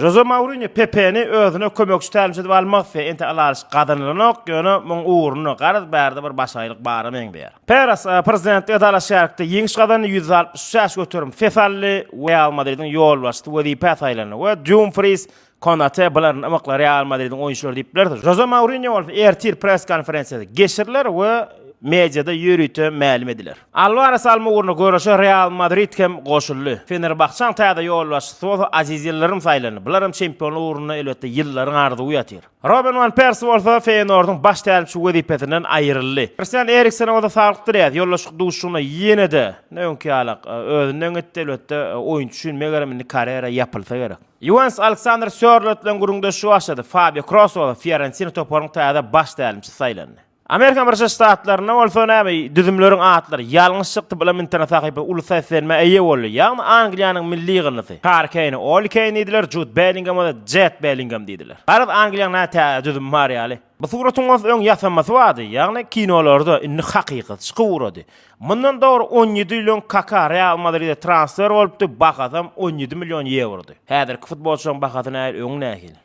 Žoze Mourinýo Pepeni özüne kömekçi tälimçi edip almak isleýär. Entek ylalaşyk gazanylanok, ýöne muň ugruna garaz bärde bir başagaýlyk bara meňzeýär. Peres prezidentlige dalaşgärlikde ýeňiş gazandy, ýüz altmyş üç ýaş göterim ses aldy, Real Madridiň ýolbaşçysy wezipä saýlandy we Dumfriz, Konate bularyň ymykly Real Madridiň oýunçylary diýip bileris. Žoze Mourinýo bolsa ertir press-konferensiýasy geçiriler we mediada ýörite mälim ediler. Alwares Almugurny göreşe Real Madrid hem goşuldy. Fenerbahçäň täze ýolbaşçysy bolsa Aziz Ýyldyrym saýlandy. Bular hem çempionlyk ugrunda elbetde Ýyldyryň arzuwy ýatyr. Roben wan Persi bolsa Feýenordyň baş tälimçi wezipesinden aýryldy. Kristian Eriksene bolsa saglyk dileýäs. Ýoldaşlyk duşuşygynda ýene-de ne öňki ýaly özünden gitdi. Elbetde oýunçy üçin megerem indi karýera ýapylsa gerek. Ýuwentus Aleksandr Sýorloth bilen gürrüňdeşligi başlady. Fabio Kroos bolsa Fiorentina toparynyň täze baş tälimçisi saýlandy. Amerika Birleşen Ştatlarynda bolsa näme düzümleriň atlary ýalňyş çykdy bilim internet sahypasy uly seslenmä eýe boldy. Ýagny Angliýanyň milli ýygyndysy. Harry Keýne Oli Keýn diýdiler, Jud Bellingem bolsa Jet Bellingem diýdiler. Garaz Angliýanyň näme tä düzümi bar ýaly. Bu suratyň bolsa öň ýasamasy bardy, ýagny kinolarda, indi hakykat çykyp ugrady. Mundan dogry on ýedi ýyl öň Kaka Real Madride transfer bolupdy, bahasam on ýedi million ýewrody. Häzirki futbolçylaryň bahasy nähili, öňi nähili?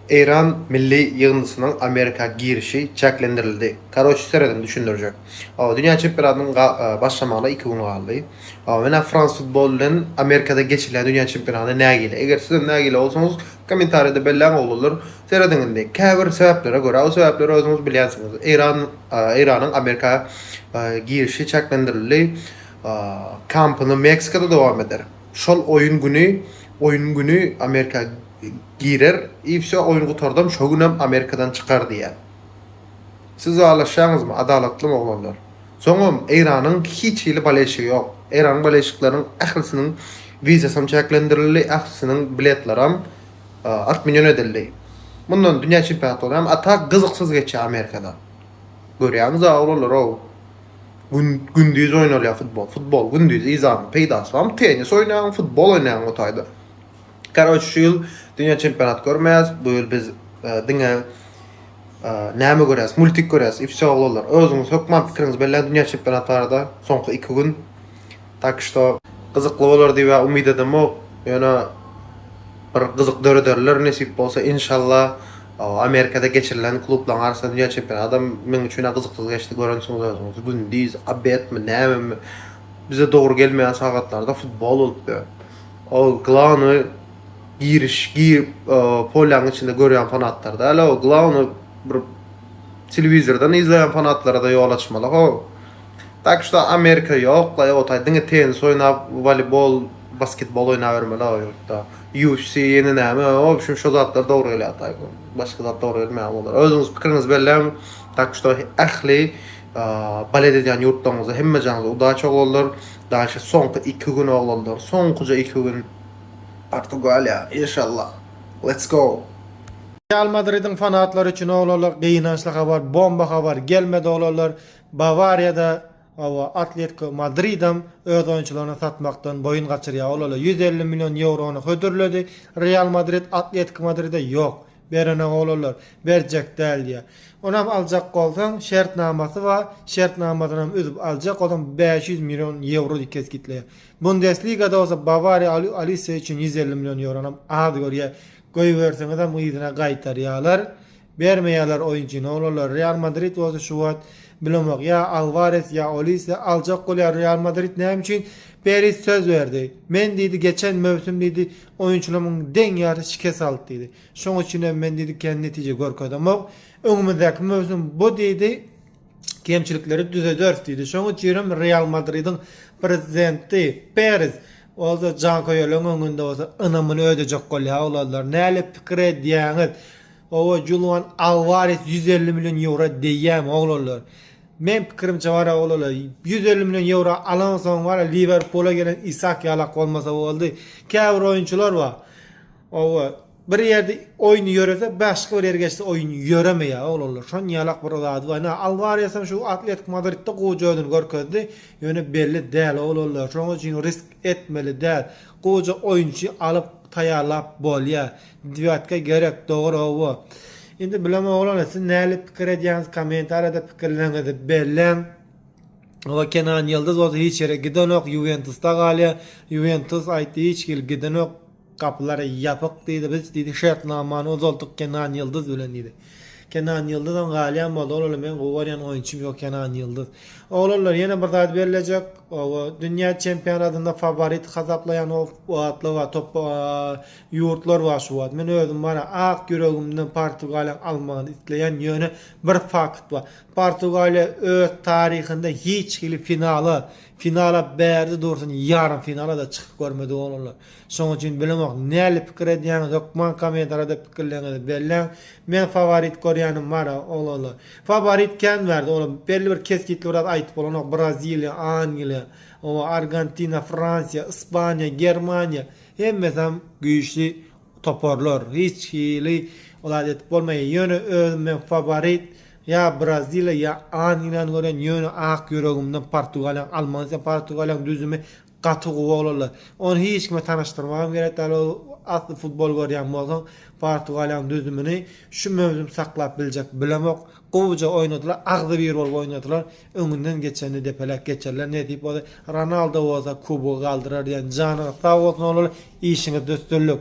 Eýran milli ýygyndysynyň Amerika girişi çäklendirildi. Karoç serediň düşündirjek. Dünýä çempionatynyň başlamagyna iki gün galdy. Menä France Football bilen Amerikada geçirilýän dünýä çempionatyna nägile. Eger sizem nägile bolsaňyz kommentariýada belläň oglanlar. Serediň indi. Käbir sebäplere görä, o sebäpleri özüňiz bilýänsiňiz. Eýran Eýranyň Amerika girişi çäklendirildi. Kampyny Meksikada dowam eder. Şol oýun güni oýun güni Amerika Girer i vsё oýun gutardam şo günem Amerikadan çykar diýýär. Siz ylalaşýaňyzmy adalatlym oglanlar. Soňam Eýranyň hiç hili baleşigi ýok. Eýranyň baleşikleriniň ählisiniň wizasam çäklendirildi, ählisiniň biletleram otmenýon edildi. Mundan dünýä çempionatlary hem a tak gyzyksyz geçýär Amerikada. Görýäňiz a oglanlarow. Gün gündiz oýnalýar futbol. Futbol gündiz yzany peýdasy barmy? Tennis oýnaýaň, futbol oýnaýaň o taýda. Karoç şu ýyl dünýä çempionat görmeýäs, bu ýyl biz diňe näme görýäs, multik görýäs i wsýo oglanlar. Özüňiz hökman pikiriňizi belläň dünýä çempionat barada soňky iki gün. Tak şto gyzykly bolar diýip ä umyt edemok, ýöne bir gyzyk dörederler nesip bolsa inşalla. Amerikada geçirilen klublaryň arasynda dünýä çempionadam meň üçin ä gyzyksyz geçdi, görensiňiz özüňiz gündiz, obedmi nämemi bize dogry gelmeýän sagatlarda futbol bolupdy. Ol glawnoý giriş girip polýaň içinde görýän fanatlar däl o glawnoý bir telewizordan izleýän fanatlarada ýol açmaly ho. Tak şuda Amerika ýokla ýotaý diňe tenis oýnap walibol basketbol oýnap ýörmeli o ýurtda. UFC ýene näme o şum şo zatlar dogry gelýär taý başga zat dogry gelmeýär olara özüňiz pikiriňizi belläň tak şuda ähli Balet edýän ýurtlaryňyzda hemme jaňyza udaç oglanlar. Daşy soňky iki gün oglanlar soňkuja iki gün Portugaliýa inşallah let's go. Real Madridiň fanatlary üçin oglanlar gynançly habar bomba habar gelmedi oglanlar Bawariýada hawa Atletiko Madridem öz oýunçylaryny satmakdan boýun gaçyrýar oglanlar ýüz elli million ýewrony hödürledi Real Madrid Atletiko Madride ýok Berenog olarlar, berjek däl diýýär. Onam aljak bolsaň, şertnamasy bar, şertnamasynam üzüp aljak, ozam bäş ýüz million ýewro diýip kesgitleýär. Bundesligada bolsa Bawariýa Alise üçin ýüz elli million ýewronam az görýär. Goýberseňizem yzyna gaýtarýarlar. Bermeýärler oýunçyny olarlar. Real Madrid bolsa şu wagt bilemok, ýa Alwares, ýa Olise aljak bolýar. Real Madrid näme üçin? Peris söz berdi. Men diýdi, geçen möwsüm diýdi, Oýunçymyň deň ýary şikes aldy diýdi. Şonuň üçin hem men diýdi kän netije görkezemok. Öňümizdäki möwsüm bu diýdi kemçilikleri düzederis diýdi. Şonuň üçin hem Real Madridiň prezidenti Perez bolsa janköýerleriň öňünde bolsa ynamyny ödejek bolýar. Oglanlar, näle pikir edýäňiz? Owo, Julian Alwares ýüz elli million ýewro degýärmi, oglanlar? Meň pikirimçe bar ya olala ýüz elli million ýewro alansoň bar ya Liwerpula gelen Isak ýalak bolmasa boldy. Käbir oýunçylar bar. Owa bir ýerde oýny ýörese başga bir ýere geçse oýun ýöremeýä oglanlar. Şon ýalak bir zady bar. Ine Alwaresem şu Atletik Madridde gowja özüni görkezdi. Ýöne belli däl oglanlar. Şoň üçin risk etmeli däl. Gowja oýunçy alyp taýýarlap bolýa. Dýuetka gerek dogry howwa. Indi bilemok oglanlar siz näle pikir edýäňiz komentariýada pikirleriňizi belläň. Howwa Kenan Ýyldyz bolsa hiç ýere gidenok Ýuwentusda galýar. Ýuwentus aýtdy hiç hili gidenok gapylar ýapyk diýdi biz diýdi şertnamany uzaltdyk Kenan Ýyldyz bilen diýdi. Kenan Ýyldyzam galýan boldy oglanlar meň gowy görýän oýunçym ýok Kenan Ýyldyz. Oglanlar ýene bir zat bellejek howwa dünýä çempionatynda faworit hasaplaýan Oatlova topba Ýurtlar bar şu wagt. Men özüm bar-a, ak ýüregimden Portugaliýanyň almagyny isleýän, ýöne bir fakt bar. Portugaliýa öz taryhynda hiç hili finala, finala bärde dursun ýarym finala-da çykyp görmedi oglanlar. Şonuň üçin bilemok, näli pikir edýäňiz, hökman kommentariýada pikirleriňizi belläň. Men faworit görýänim bar-a, oglanlar. Faworit kän bärde, olam belli bir kesgitli bir zat aýdyp bolanok, Braziliýa, Angliýa, oba, Argentina, Fransiýa, Ispaniýa, Germaniýa, Hemmesem güýçli toparlar. Hiç hili ol zat edip bolmaýar. Ýöne özüm men faworit ýa Braziliýa ýa Angliýany görýän. Ýöne ak ýüregimden Portugaliýany almagyny isleýän. Portugaliýanyň düzümi gaty gowy oglanlar. Ony hiç kime tanyşdyrmagam gerek däl. Ol asly futbol görýän bolsaň Portugaliýanyň düzümini şu möwsüm saklap biljek bilemok. Gowuja oýnadylar. Agzybir bolup oýnadylar. Öňünden geçeni depeläp geçerler nesip bolsa, Ronaldo bolsa kubogy galdyrar diýen janyňyz sag bolsun oglanlar işiňizde üstünlik.